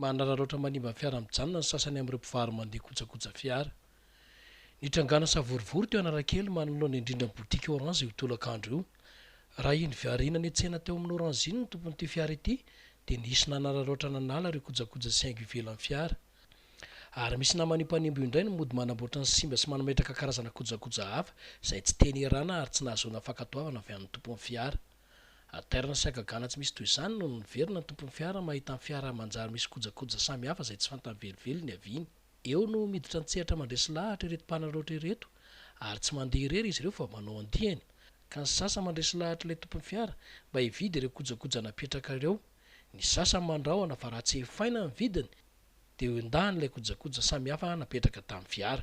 Manararaotra manimba ny fiara mijanona ny sasany amin'ireo mpivaro-mandeha kojakoja fiara. Nitrangàna savorovoro teo Analakely manoloana indrindra ny botiky Orange io tolakandro io. Raha iny Viharina nihetsehana teo amin'ny Orange iny ny tompon'ity fiara ity dia nisy nanararaotra nanala ireo kojakoja sy haingo ivelan'ny fiara. Ary misy naman'io mpanimbo io indray no mody manamboatra ny simba sy manametraka karazana kojakoja hafa izay tsy tena erana ary tsy nahazoana fankatoavana avy amin'ny tompon'ny fiara. Aterina sy hagagana tsy misy toy izany no niverina ny tompon'ny fiara mahita ny fiara manjary misy kojakoja samy hafa izay tsy fantany velively niaviany. Eo no miditra an-tsehatra mandresy lahatra ireto mpanararaotra ireto ary tsy mandeha irery izy ireo fa manao andiany ka ny sasany mandresy lahatra ilay tompon'ny fiara mba hividy ireo kojakoja napetraka ireo, ny sasany mandrahona fa raha tsy hefaina ny vidiny dia eo indahiny ilay kojakoja samihafa napetraka tamin'ny fiara.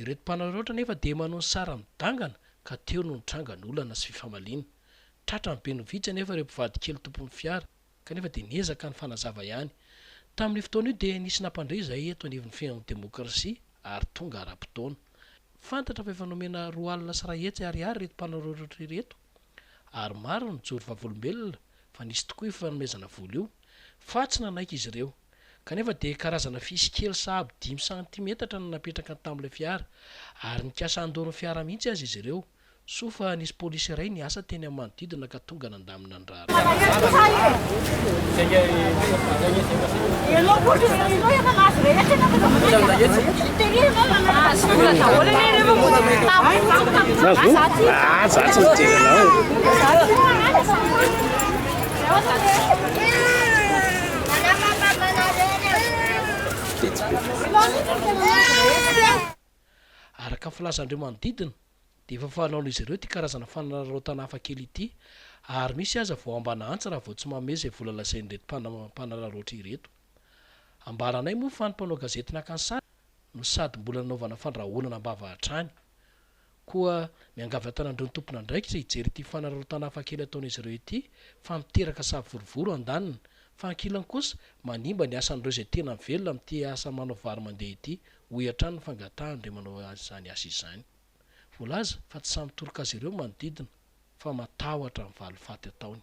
Ireto mpanararaotra anefa dia manao ny sara-midangana ka teo no nitranga ny olana sy fifamaliana. Tratran'ny be no vitsy anefa ireo mpivadikely tompon'ny fiara kanefa dia niezaka nifanazava ihany. Tamin'io fotoana io dia nisy nampandre izahay eto anivon'ny Fihaonan'ny Demokrasia ary tonga ara-potoana. Fantatra fa efa nomena roa alina sy iray hetsy ariary ireto mpanararaotra ireto ary maro ny joro vavolombelona fa nisy tokoa io fanomezana vola io fa tsy nanaiky izy ireo kanefa dia karazana fisy kely sahabo dimy santimetatra no napetraka tamin'ilay fiara ary nikasa handoro ny fiara mihitsy aza izy ireo soa fa nisy polisy iray niasa teny amin'ny manodidina ka tonga nandamina ny raharaha. Araka ny filazan'ireo manodidina, dia efa fanaon'izy ireo ity karazana fanararaotana hafa kely ity ary misy aza vao ambana antsy raha vao tsy manome izay vola lazain'ireto mpanararaotra ireto. Ambaranay moa fa ny mpanao gazety naka ny sary no sady mbola nanaovana fandrahonana am-bava hatrany. Koa miangavy an-tanan'ireo tompon'andraikitra hijery ity fanararaotana hafa kely ataon'izy ireo ity fa miteraka savorovoro an-daniny fa ankilany kosa manimba ny asan'ireo izay tena mivelona amin'ity asa manao vary mandeha ity, hoy hatrany ny fangatahan'ireo manao izany asa izany. Voalaza fa tsy sahy mitoroka azy ireo ny manodidina fa matahotra ny valifaty ataony.